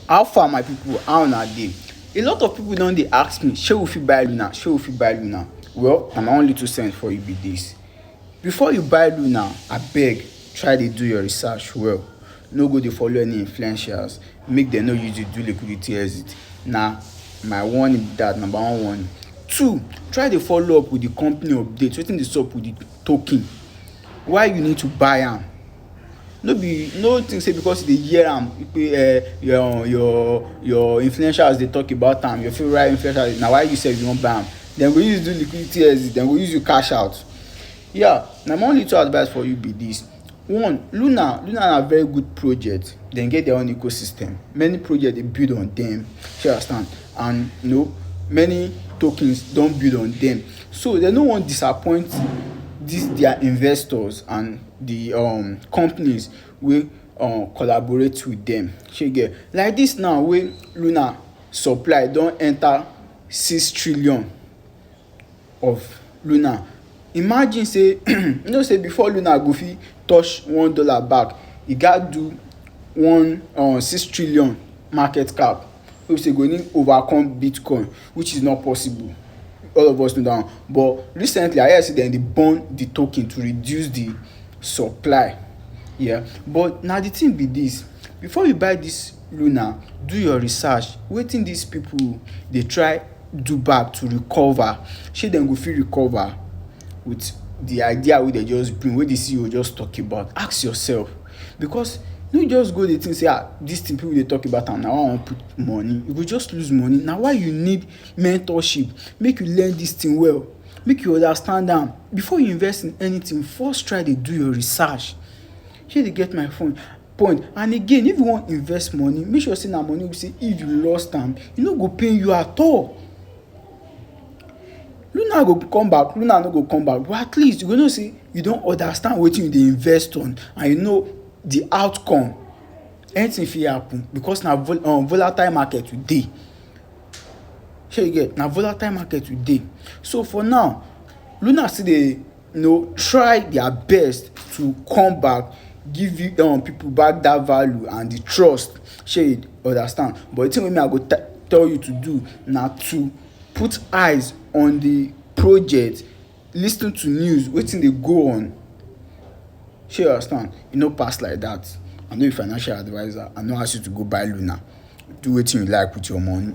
How far my people how una dey a lot of people don dey ask me shey we fit buy Luna shey we fit buy Luna well na my own little sense for you be this before you buy Luna abeg try dey do your research well no go dey follow any influencers make dem no use you do liquidity exit na my warning be that number one warning two try dey follow up with the company update wetin dey sup with the token why you need to buy am no be no think say because you dey hear am pe eh your your your influencers dey talk about am your favourite influencers na why you sef you wan buy am dem go use do liquidity exit dem go use you cash out yeah na my own little advice for you be this one luna luna na very good project dem get their own ecosystem many project dey build on dem shey you understand and you know many tokens don build on dem so dem no wan disappoint this their investors and the um companies wey um collaborate with them shey you get like this now wey Luna supply don enter six trillion of Luna imagine say you know say before Luna go fit touch one dollar back e gat do one um six trillion market cap. wey be say go need overcome Bitcoin which is not possible all of us know that one but recently I hear say dem dey burn the token to reduce the supply yeah but na the thing be this before you buy this Luna do your research wetin these people dey try do back to recover shey dem go fit recover with the idea wey dem just bring wey the CEO just talk about ask yourself Because no just go dey think say ah this thing people dey talk about am na why I wan put money you go just lose money na why you need mentorship make you learn this thing well make you understand am before you invest in anything first try dey do your research shey you get my point and again if you wan invest money make sure say na money wey be say if you lost am e no go pain you at all. Luna go come back, Luna no go come back but at least you go know sey you don understand wetin you dey invest on and you know de outcome. Anything fit happen because na um volatile market we dey. Shey you get? Na volatile market we dey. So for now, Luna still dey you know, try their best to come back give you um, people back that value and the trust shey understand but the thing wey me i go tell you to do na to put eyes on the project lis ten to news wetin dey go on shey understand e no pass like that i no be financial adviser i no ask you to go buy luna do wetin you like with your money.